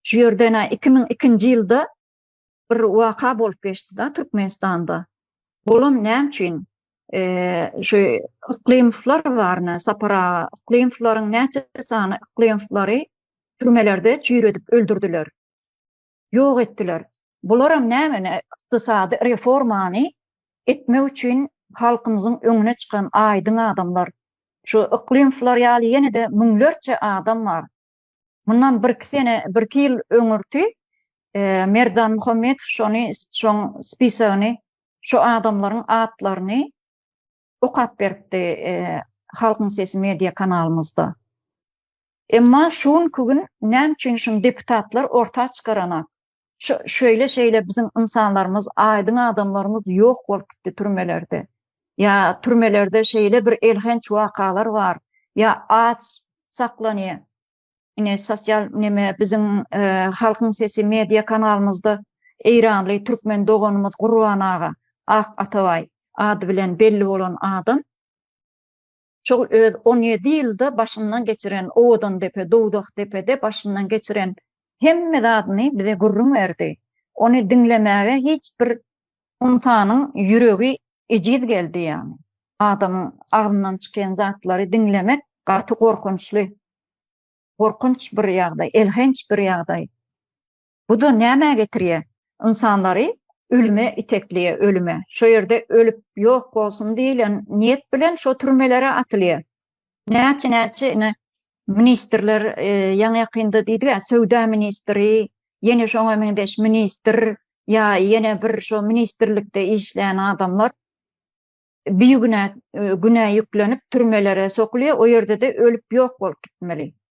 Şu ýerden iki müň ikinji ýylda bir waka bolup geçdi da Türkmenistanda. Olam näme üçin şu Yklymowlar baryna Sapar aga Yklymowlaryň näçe sany Yklymowlary türmelerde çüýredip öldürdiler. Ýok etdiler. Bularam nämeni ykdysady reformany etmek üçin halkymyzyň öňüne çykan aýdyň adamlar. Şu Yklymowlar ýaly ýene-de müňlerçe adam bar. Mundan birki sene, birki ýyl öňürti Merdan Muhammedow şony, şoň spisagyny, şu adamlaryň atlaryny okap beripdi Halkyň sesi media kanalymyzda. Emma şu günki gün näme üçin şuny deputatlar orta çykaranak? şeýle şeýle biziň ynsanlarymyz, aýdyň adamlarymyz ýok bolup gitdi türmelerde. Ýa türmelerde şeýle bir elhenç wakalar bar, ýa aç saklanýar. Ine sosial neme biziň e, halkyň sesi media kanalymyzda eýranly türkmen doganymyz Gurban aga Ak Atabaý ady bilen belli bolan adam şol öz on ýedi ýylda başyndan geçiren Owadandepe, Dowdakdepede başyndan geçiren hemme zadyny bize gürrüň berdi. Ony diňlemäge hiç bir ynsanyň ýüregi ejiz geldi ýagny. Adamyň agzyndan çykýan zatlary diňlemek gaty gorkunçly. Gorkunç bir ýagdaý, elhenç bir ýagdaý. Bu-da nämä getirýär? Ynsanlary ölüme itekleýär, ölüme. Şo ýerde ölüp ýok bolsun diýlen niýet bilen şo türmelere atylýar. Näçe-näçe ine, ministrler ýaňy-ýakynda diýdi-ä, söwda ministri, ýene şoňa meňzeş ministr ýa ýene bir şo ministrlikde işleýän adamlar bigünä günä ýüklenip türmelere sokulýar, o ýerde-de ölüp ýok bolup gitmeli.